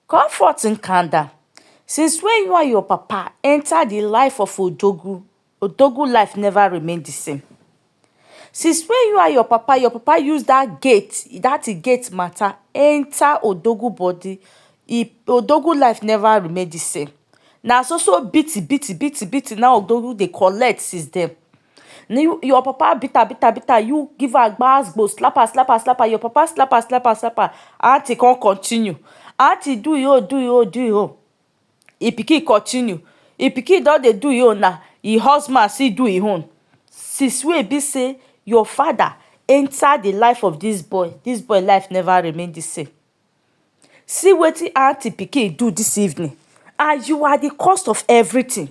Comfort Nkanda, since wey you and your papa enter the life of Odogwu, Odogwu life never remain the same. Since wey you and your papa, your papa use that gate, that e gate matter enter Odogwu body, e Odogwu life never remain the same. Na so so beating, beating, beating, beating na Odogwu dey collect since then. Na you your papa beat her beat her beat her you give her gbas gbos slap her slap her slap her your papa slap her slap her slap her aunty come continue aunty do im own do im own do im own im pikin continue im pikin don dey do im own now im husband still do im own since wey e be say your father enter the life of this boy this boy life never remain the same see wetin aunty pikin do this evening and you are the cause of everything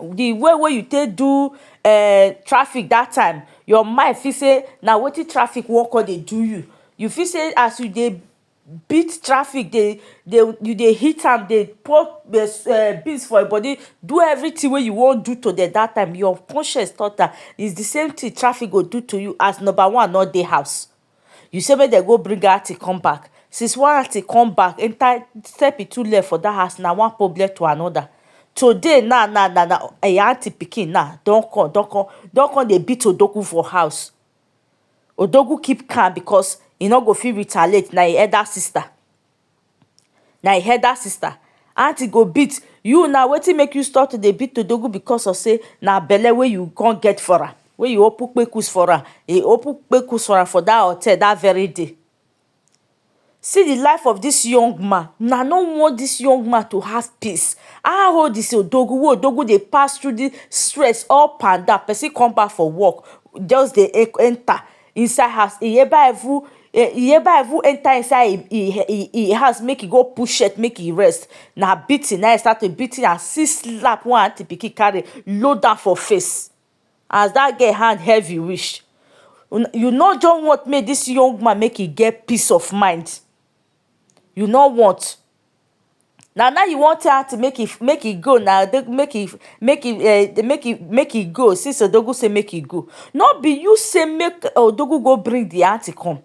the way wey you take do um traffic that time, your mind fit say na wetin traffic wan con dey do you. You fit say as you dey beat traffic dey dey you dey hit am dey pour um beans for your body, do everything wey you wan do to dem that time, your conscience talk am. It's the same thing traffic go do to you as number one no dey house. you say make dem go bring dat thing come back since one thing come back enter step e two leg for dat house na one problem to another today now now na na im aunty pikin now don come don come don come dey beat odogwu for house odogwu keep calm because e no go fit retaliate na im elder sister na e elder sister aunty go beat you na wetin make you stop to dey beat odogwu because of sey na belle wey you come get for am wey you open kpekus for am you open kpekus for am for dat hotel dat very day see di life of dis young man una no want dis young man to have peace how old is odogwu wey odogwu dey pass through dis stress up and down person come back from work just dey enter inside house Iyeba even Iyeba even enter inside e house make e go put shirt make e rest na beating na e start to beat am see slap wey aunty pikin carry load am for face as that girl hand heavy reach you no just want make this young man make e get peace of mind you no want na now you wan tell aunty make e make e go na make e make e um make e make e go since odogwu say make e go no be you say make odogwu go bring the aunty come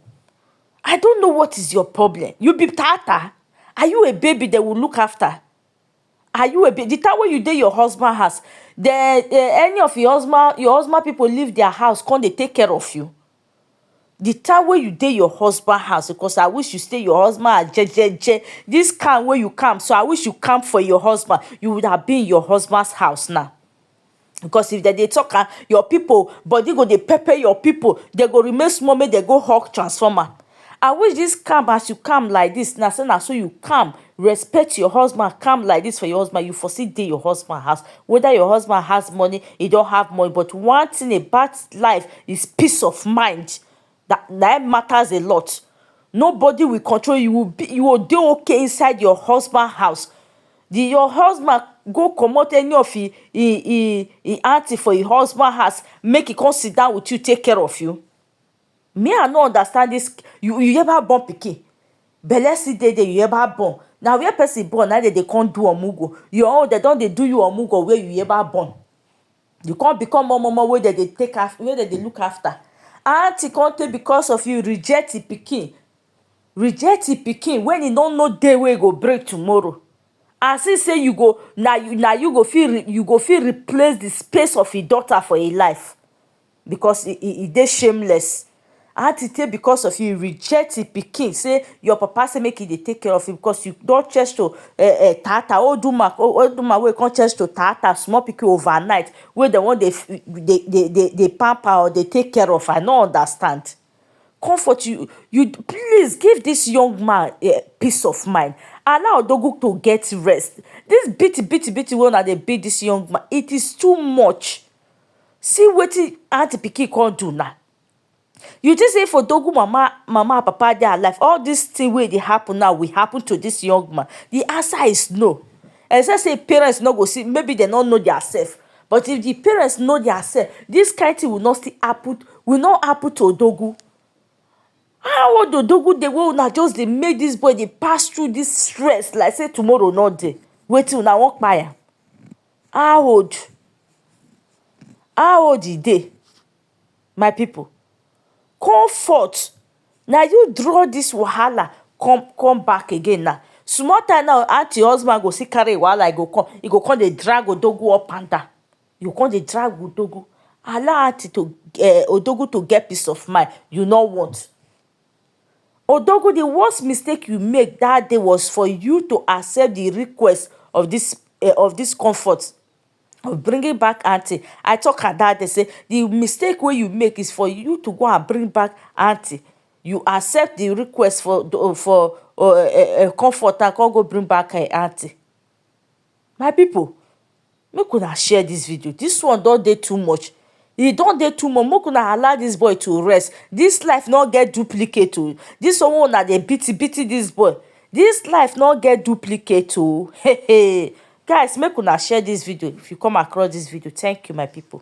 i don't know what is your problem you be taata are you a baby they will look after are you a baby the time wey you dey your husband house they um any of your husband your husband people leave their house come dey take care of you The time wey you dey your husband house because I wish you stay your husband house jejeje. Dis calm wey you calm so, I wish you calm for your husband. You would have been in your husband's house now. Because if dem dey talk am, your pipu body go dey pepper your pipu. Dem go remain small make dem go hug transformer. I wish dis calm as you calm like dis na so na so you calm respect your husband calm like dis for your husband you for still dey your husband house whether your husband has money e don have money but one thing about life is peace of mind na na him matters a lot nobody will control you will you will dey okay inside your husband house the your husband go comot any of him him him him aunty for your husband house make e come sit down with you take care of you Me I no understand this you you ever born pikin belle still dey there you ever born na where person born na dey dey come do omugo your own dey don dey do you omugo where you ever born you come become omomo wey dem dey take care wey dem dey look after aunty come take because of you reject him pikin reject him pikin when he no know day wey he go break tomorrow as if say you go na you na you go fit you go fit replace the space of him daughter for him life because he he he dey shameless how to take because of you reject the pikin say your papa say make he dey take care of you because you don change to uh, uh, tata old woman old woman wey come change to tata small pikin overnight wey dem wan dey dey dey dey dey pamper or dey take care of i no understand comfort you you please give this young man uh, peace of mind allow odogu to get rest this beat beat beat wey una dey beat this young man it is too much See wetin how di pikin come do na. You think say for Dogu mama mama and papa dey alive all dis tin wey dey happun now will happun to dis young man? Di answer is no. Except say im parents no go see, maybe dem no know dia sef. But if di parents know dia sef, dis kain tin will not still happun will not happun to Dogu. How old Dogu dey wey una just dey make dis boy dey pass through dis stress like say tomorrow no dey. Wetin una wan kpai am? How old how old e dey my people comfort na you draw this wahala come come back again now small time now aunty husband go still carry him wahala e go come e go come dey drag odogwu up and down e go come dey drag odogwu allow aunty to um odogwu to get peace of mind you no want Odogu, the worst mistake you make that day was for you to accept the request of this uh, of this comfort of bringing back auntie. I talk her that day say the mistake where you make is for you to go and bring back auntie. You accept the request for for uh, uh, comfort and come go bring back her auntie. My pipu make una share dis video dis one don dey too much e don dey too much make una allow dis boy to rest dis life no get duplicate oh dis one wey una dey beat beat dis boy dis life no get duplicate oh um guys make una share dis video if you come across dis video thank you my pipu.